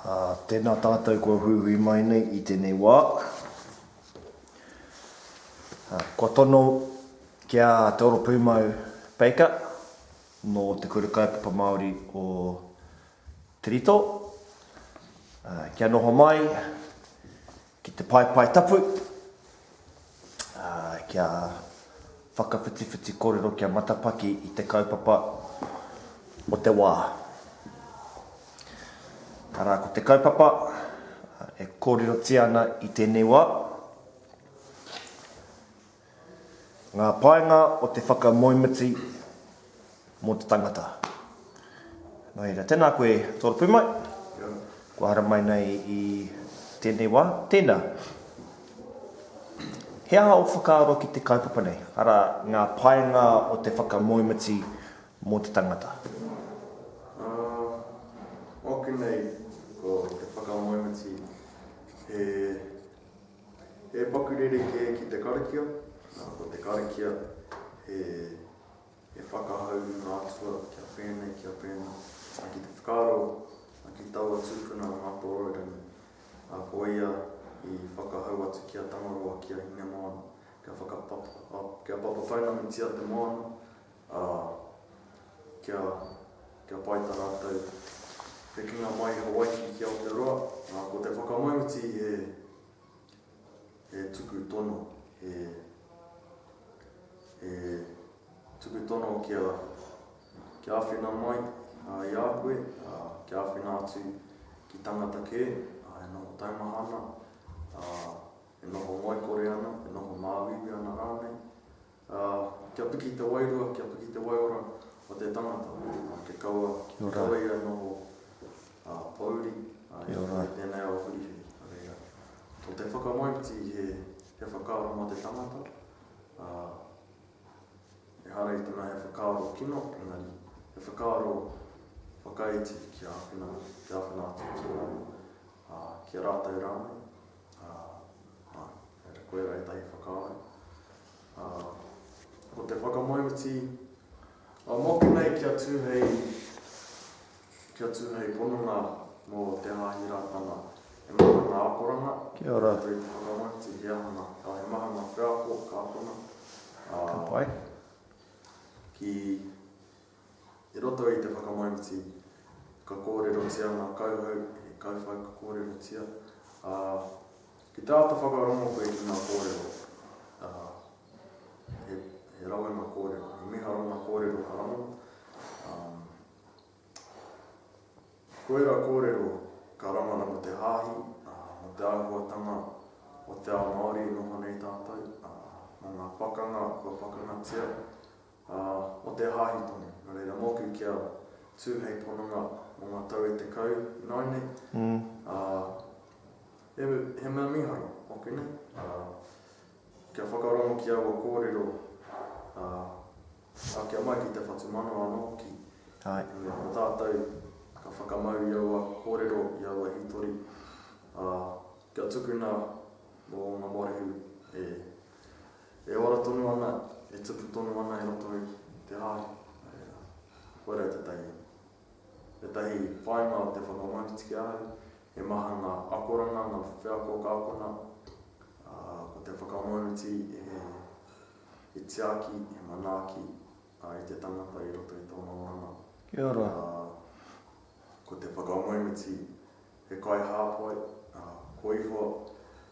Ā, tēnā tātou kua huihui mai nei i tēnei wā. Ā, kua tono ki a Te Oropūmau Baker nō Te Kura Kaupapa Māori o Te Rito, ā, kia noho mai, Ki te paepae tapu, kia whakawhitiwhiti korero kia matapaki i te kaupapa o te wā. Tara ko te kaupapa e korirotia ana i tēnei wā. Ngā painga o te whakamoemiti mō te tangata. Nō reira, tēnā koe Toropu mai, kua haramai nei i tēnei wā, tēnā. He aha ō whakaaro ki te kaupapa nei, arā, ngā painga o te whakamoemiti mō te tangata? Ā, mōku nei, ko te whakamoemiti he. He paku rerekē ki te karakia, ā, ko te karakia he, he whakahau i ngā atua kia whēnei, kia pēnā. Ā, ki te whakaaro ki taua tūpuna o Ngātoroirangi, ā, ko ia i whakahau atu ki a Tangaroa, ki a Hinemoana, kia whakapapa, kia papa pounamutia te moana, Ā, kia, kia pai tā rātou hekenga mai i Hawaiki ki Aotearoa, ā, ko te whakamaruti he, he tuku tono, he, he tuku tono kia, kia āwhina mai ā, i a koe, ā, kia āwhina atu ki tangata kē, ā, e noho taumaha ana, ā, e noho ngoikore ana, e noho māuiui ana rānei, Ā, kia piki te wairua, kia piki te waiora o te tangata, ā, kia kaua, kia kaua ia noho, ā, pōuri, ā, i roto i tēnei ao whiriwhiri. Nō reira, ko te whakamaiti he, he whakaaro mō te tangata, ā, ehara i te mea he whakaaro kino, engari, he whakaaro whakaiti kia āwhina, kia āwhina atu ki a, ā, ki a rātou rānei. Ā, āe, kei te koera ētahi whakaaro. Ā, ko te whakamauti, ā, mōku nei kia tū hei, kia tū hei pononga mō Te Haahi Rātana, he maha ngā akoranga, Kia ora. Kei te whakamauti he aha ngā, ā, he maha ngā wheako ka akona, ā, ki. I roto i te whakamaumiti, ka kōrerotia ngā kauhau e kauwhau ka kōrerotia, ā, ki te āta whakarongo koe ki ngā kōrero, ā, he, he rawe ngā kōrero, he miharo ngā kōrero ka rangona, ā, ko ērā kōrero ka rangona mō te hāhi, ā, mō te āhuatanga o te ao Māori e noho nei tātou, ā, mō ngā pakanga kua pakangatia, Ā, mō te hāhi tonu, nō reira, mōku kia tū hei pononga mō ngā tau e tekau nāu nei, ā, he, he mea mīharo ōku nei, ā, kia whakarongo ki aua kōrero, ā, ākia mai ki te whatumanawa anō hoki, i mea ko tātou ka whakamau i aua kōrero, i aua hītori, ā, kia tukuna mō ngā morehu e E ora tonu ana, e tupu tonu ana i roto i te hāhi. Kua reo tētahi, tētahi whāinga o te whakamauriti ki a au, he maha ngā akoranga, ngā wheako ka akona, ā, ko te whakamauriti he, he tiaki, he manaaki, ā, i te tangata i roto i tōna oranga. Kia ora. Ā, ko te whakamauriti, He kaihāpai, ā, kua ihoa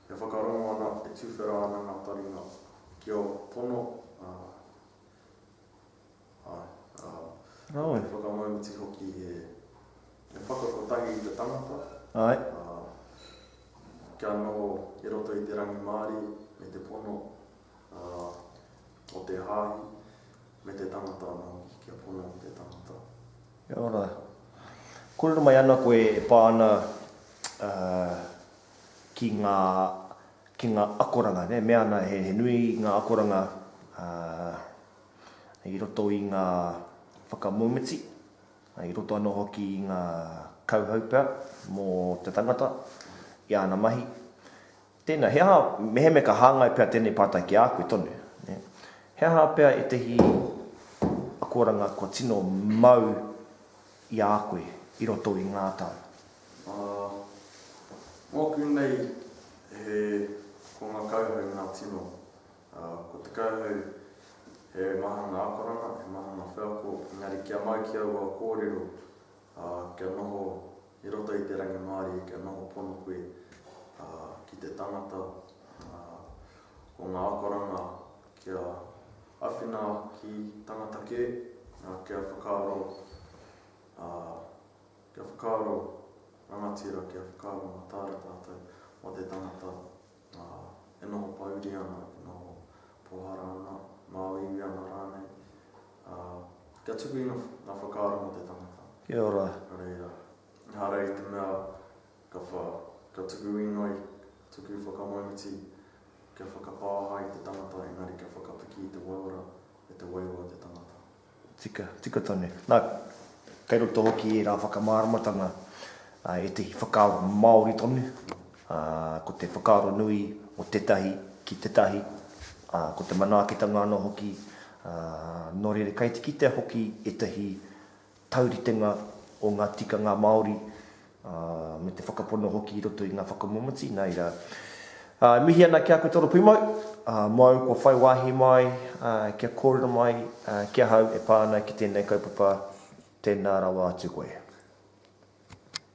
e whakarongo ana, e tuwhera ana ngā taringa ki ō tono, ā, āe, ā, Āe. he whakamaumiti hoki he, he whaka kotahi i te tangata, Āe. ā, kia noho i roto i te rangimārie me te pono, ā, o te hāhi me te tangata anō hoki kia pono te tangata. Kia ora. Kōrero mai ana koe e pā ana ki ngā, ki ngā akoranga, nē, mea ana he nui ngā akoranga i roto i ngā whakamomiti, i roto anō hoki i ngā kauhau pea mō te tangata i āna mahi. Tēnā, he aha, mehemea ka hāngai pea tēnei pātai ki a koe tonu, nē? He aha pea ētehi akoranga kua tino mau i a koe i roto i ngā tau? Ā, mōku nei, he, ko ngā kauhau ngā tino, ā, ko te kauhau he maha ngā akoranga, he maha ngā wheako, engari kia mau ki aua kōrero, Ā, kia noho i roto i te rangimārie, kia noho pono koe, ā, ki te tangata, ā, ko ngā akoranga kia awhina ki tangata kē, ā, kia whakaaro, ā, kia whakaaro rangatira, kia whakaaro mataara tātou mō te tangata. Ā, e noho pōuri ana, e noho pōhara ana, māuiui ana rānei, ā, kia tuku i ngā whakaaro mō te tangata. Kia ora. Nō reira, ehara i te mea ka wha, ka tuku inoi, ka tuku whakamauti, kia whakapāha i te tangata, engari kia whakapiki i te waiora, e te wairua te tangata. Tika, tika tonu. Nā, kei roto hoki ērā whakamāramatanga ā ētahi whakaaro Māori tonu, ā, ko te whakaaro nui o tētahi ki tētahi, ā, ko te manaakitanga anō hoki, ā, nō reira kei te kitea hoki ētahi tauritenga o ngā tikanga Māori ā, me te whakapono hoki i roto i ngā whakamomoti, nā reira, ā, e mihi ana ki a koe toro pūmau, ā, māu kua whai wāhi mai, ā, kia kōrero mai, ā, ki ahau e pā ana ki tēnei kaupapa, tēnā rawa atu koe.